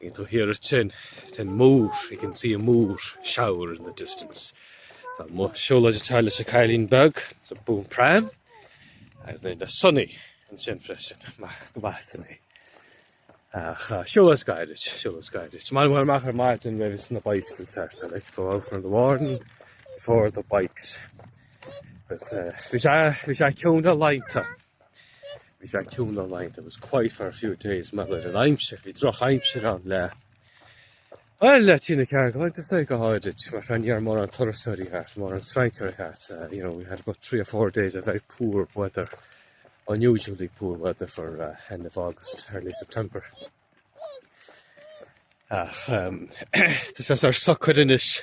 You can hear it sin, cith mór, you can see a mór shower in the distance. Tá mo siúlóid ag teacht leis an cailín beag, it's a boom pram, agus mé le Sonny ansin freisin, maith Sonny. Ach siúlóid gairid, siúlóid gairid. Is maith liom dul amach ar maidin roimh na bikes, I like to go out in the morning before the bikes. Agus bhí sé, bhí sé ceann ealaíonta. Bhí fíor-chiúin ann againn, it was quiet for a few days, mar gur an aimsir, bhí droch aimsir ann le Well, le trí nó ceathair go laethanta go háirid, ní raibh mórán turasóirí thart, mórán strainséirí thart, uh, you know, we had about three or four days of very poor weather, unusually poor weather for uh, end of August, early September. Ach, um, tá sé ar socair anois,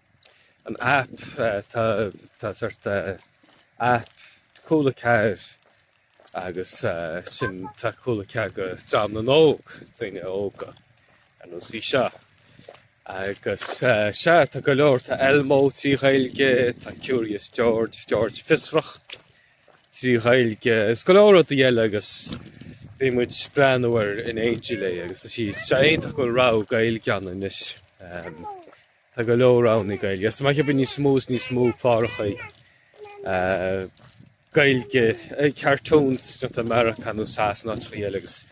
an aip, tá tá sórt aip Cúla Ceathair agus sin tá Cúla Ceathair go dream óg, daoine óga ar nós í seo. Agus sea tá go leor tá Elmo trí Ghaeilge, tá Curious George, George Fiosrach trí Ghaeilge is go leor rudaí eile agus bíonn muid breathnú air in éindí léi agus tá sé sin iontach go bhfuil rogha Gaeilge ann anois. Tá go leor ann i nGaeilge. Is ba mhaith bheith níos mó is níos mó cláracha Gaeilge, cartoons as Meiriceá nó Sasana áiteachaí eile agus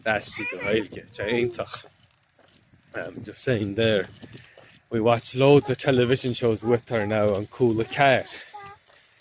aistrithe go Gaeilge. Tá iontach. Um, just saying there. We watch loads of television shows with her now on Cúla Ceathair.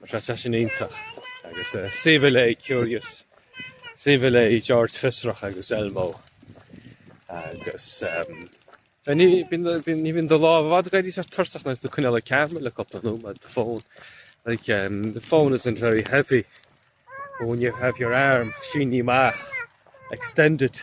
Mar sin tá sin iontach agus is aoibhinn léi Curious, is aoibhinn léi George Fiosrach agus Elmo agus ehm, ní bhíonn do lámh i bhfad ag éirí tuirseach nuair atá tú coinneáil camera le cúpla nóiméad, do phone. Like, um, the phone isn't very heavy, but when you have your arm, sínte amach, extended.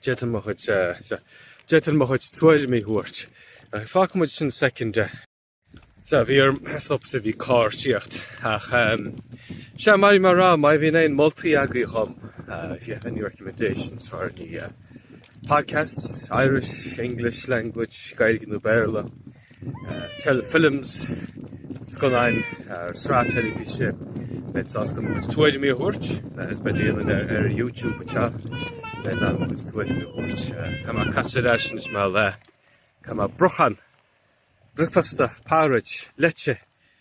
D'fhéadfainn mo chuid, sea, d'fhéadfainn mo chuid tuairimí a thabhairt ach fágfaidh muid sin soicind. Sea, bhí orm stopadh, bhí carr tíocht ach ehm, sea, mar a bhí mé a' rá, má bhíonn aon moltaí agaibh dhom, if you have any recommendations for any podcasts, Irish, English language, Gaeilge nó Béarla, Films, scannáin nó sraith teilifíse. Beidh mé sásta mo chuid tuairimí a thabhairt, is b'fhéidir ar YouTube anseo, d'fhéadfainn mo chuid tuairimí a thabhairt. Tá mé casta ar ais anois mar le, tá mé brochán, bricfeasta, porridge, leite,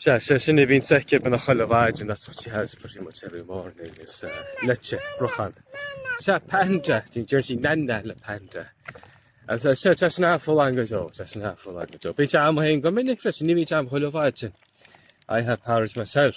Sea, sé sin a bhíonns aici beagnach chuile mhaidin, that's what she has pretty much every morning, is ea, leite, brochán. Sea, panda, do you hear she nana le panda. As I said, she's an awful lot going on, that's an awful language, oh. Bíonn sé am fhéin go minic freisin, ní bhíonn sé am chuile mhaidin. I have porridge myself.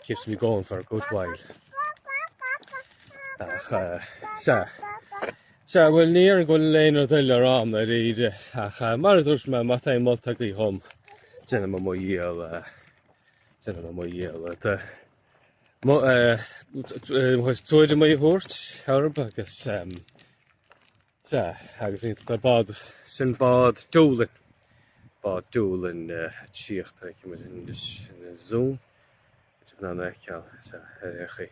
It keeps me going for a good while. Ach sea, sea bhfuil ní ar go bhfuil léanaar duil ar am ar íde ach mar a dúirt me mat é molta go thom déanam mo dhíol déanam mo dhíol tuairim mé thabhairt arb agus Sea, agus an bád sin, bád Doolin, bád Doolin eh, ag tíocht a bhí muid in in an Zoom, muid ag ann á fheiceáil, sea, ar aon chaoi,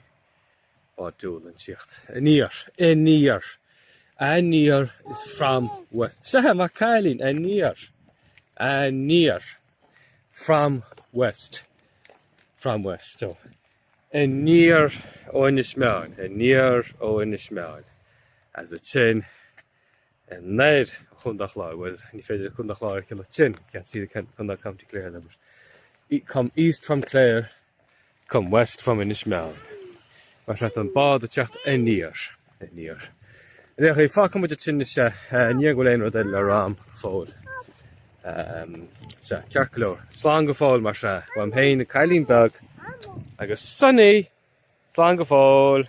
bád Doolin ag tíocht. Aniar, aniar, aniar is from west, sea, maith an cailín, aniar, aniar, from west, from west, oh. Aniar ó Inis Meáin, aniar ó Inis Meáin, is é sin, anoir ó Chontae an Chláir, bhuel, ní féidir Contae an Chláir a fheiceáil ansin, you can't see the Contae, County Clare there, but e- come east from Clare, come west from Inis Meáin. Mar sin tá an bád ag tíocht aniar. Níor. Ar aon chaoi, fágfaidh muid sin anois, ní fheadar go bhfuil aon rud eile le rá agam go fóill. Sea, ceart go leor. Slán go fóill mar sin. Uaim féin cailín beag agus Sonny! Slán go fóill!